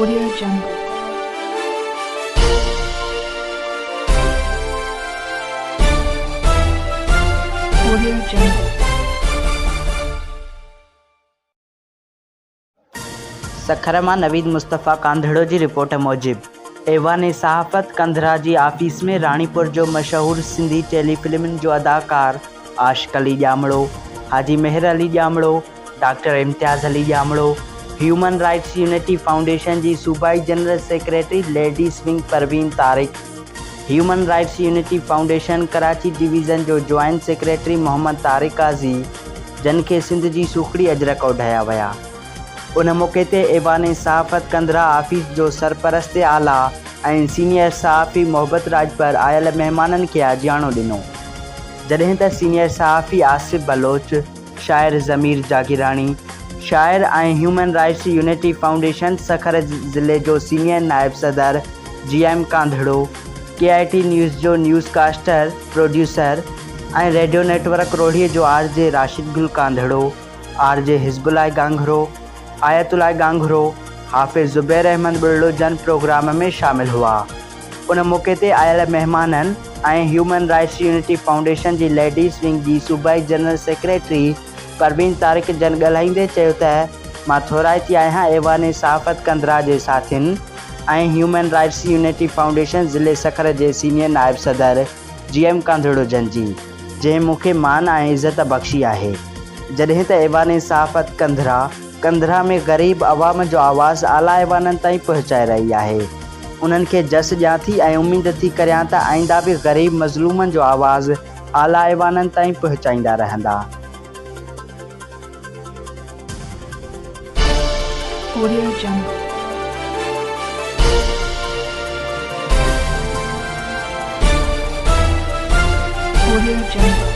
Audio jungle audio jungle Sukkur مان نويد مصطفيٰ ڪانڌڙو جي report موجب ايوان صحافت ڪنڌرا جي آفيس ۾ راڻيپور جو مشهور سنڌي ٽيلي فلمن جو اداڪار Ashiq Ali Jamro, Haji Mehar Ali Jamro, doctor Imtiaz Ali Jamro, human rights unity foundation جي صوبائي general secretary ladies wing Parveen Tariq, human rights unity foundation Karachi division جو جوائنٽ سيڪريٽري محمد طارق قاضي جن کي سنڌ جي سوکڙي اجرڪ اوڍايا ويا. ان موقعي تي ايوان صحافت ڪنڌرا آفيس جو سرپرست اعليٰ ۽ سينيئر صحافي محبت راڄپر آيل مهمانن کي آجياڻو ڏنو جڏهن ته سينيئر صحافي آصف بلوچ، شاعر ضمير جاگيراڻي، شاعر ۽ human rights unity foundation Sukkur ضلعي جو سينيئر نائب صدر G M Kandhro, K I T news جو newscaster, producer ۽ radio network Rohri جو R J Rashid Gul Kandhro, R J Hizbullah ڳاگهرو، آيت الله ڳاگهرو، حافظ زبير احمد ٻرڙو جن پروگرام ۾ شامل هئا. ان موقعي تي آيل مهمانن ۽ هيومن رائٽس يونٽي فائونڊيشن جي ليڊيز ونگ جي صوبائي جنرل سيڪريٽري پروين طارق جن ڳالهائيندي چيو ته مان ٿورائتي آهيان ايوان صحافت ڪنڌرا جي ساٿين ۽ هيومن رائٽس يونٽي فائونڊيشن ضلعي سکر جي سينيئر نائب صدر جي ايم ڪنڌڙو جن جي جنهن مون کي مان ۽ عزت بخشي آهي جڏهن ته ايوان صحافت ڪنڌرا ڪنڌرا ۾ غريب عوام جو آواز اعليٰ ايوانن تائين پهچائي رهي آهي، انهن کي جس ڏيان ٿي ۽ اميد ٿي ڪريان ته آئنده به غريب مظلومن جو آواز اعليٰ ايوانن تائين پهچائيندا رهندا. Audio Jungle. Audio Jungle.